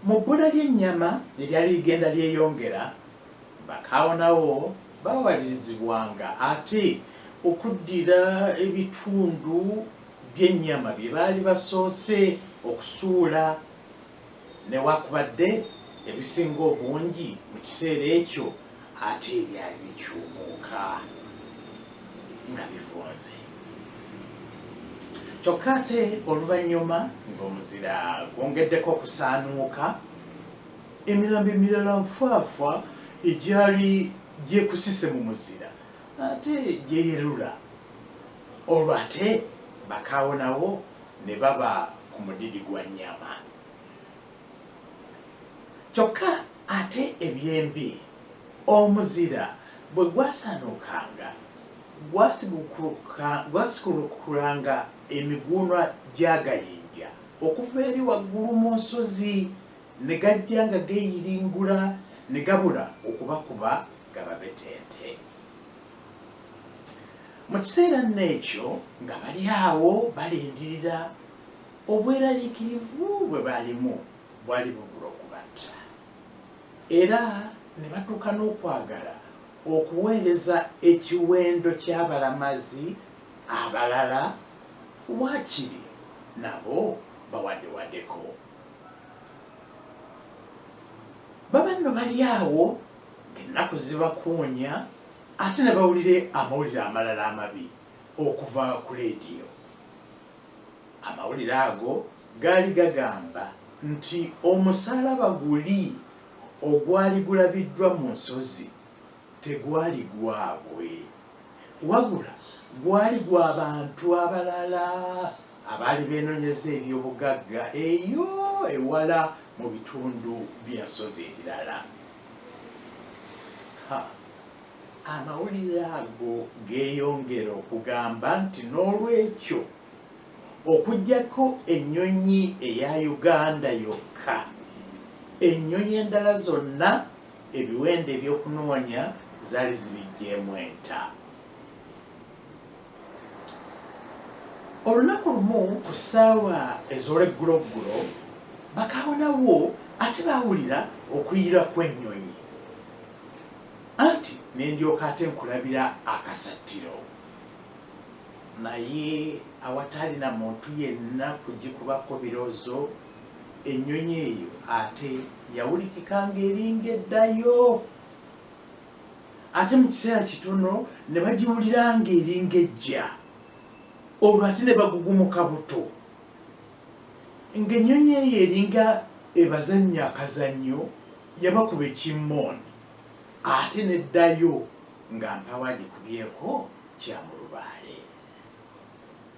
Mu bbula ly'ennyama eryali ligenda lyeyongera, bakaawonawo baawalirizibwanga ate okuddira ebitundu by'ennyama bye baali basoose okusuula. Newakubadde ebisinga obungi mu kiseera ekyo ate ebyali bikyumuuka nga bivunze. Kyokka ate oluvannyuma ng'omuzira gwongeddeko okusaanuuka, emirambo emirala nfaafa egyali gyekusise mu muzira ate gyeyerula. Olwo ate bakaawo nawo ne baba ku mudidi gwa nnyama. Kyokka ate eby'embi omuzira bwe gwasaanuukanga gwasigukulukanga emiguunwa gy'agayinja okuva eri waggulu mu nsozi ne gajja nga geeyiringula ne gabula okubakuba gababetente. Mu kiseera nno ekyo nga bali awo balindirira, obweraliikirivu bwe baalimu bwali bugula okubatta, era ne batuuka n'okwagala okuweereza ekiwendo ky'abalamazi abalala waakiri nabo bawadewadeko. Baba nno bali awo. Ennaku zibakuunya ate ne bawulira amawulire amalala amabi okuva ku leediyo. Amawulire ago gaali gagamba nti omusaalaba guli ogwali gulabiddwa mu nsozi tegwali gwabwe wabula gwali gwa bantu abalala. abaali beenonyeza eby'obugagga eyo ewala mu bitundu by'ensozi ebirala. Ha, amawulire ago geeyongera okugamba nti n'olwekyo, okuggyako ennyonyi eya Uganda yokka, ennyonyi endala zonna ebiwendo eby'okunoonya zaali zibiggyeemu enta. Olunaku lumu ku ssaawa ez'olwegguloggulo, bakaawonawo ate baawulira okuyira kw'ennyonyi, anti ne ndyoka ate nkulabira akasattiro, naye awataali na muntu yenna kugikubako biroozo, ennyonyi eyo ate yawulikika ng'eringa eddayo. ate mu kiseera kitono ne bagiwulira ng'eringa ejja, olwo ate ne bagugumuka buto ng'ennyonyi eyo eringa ebazannya akazannyo, yabakuba ekimmooni ate n'eddayo nga mpaawo agikubyeko kya mulubaale.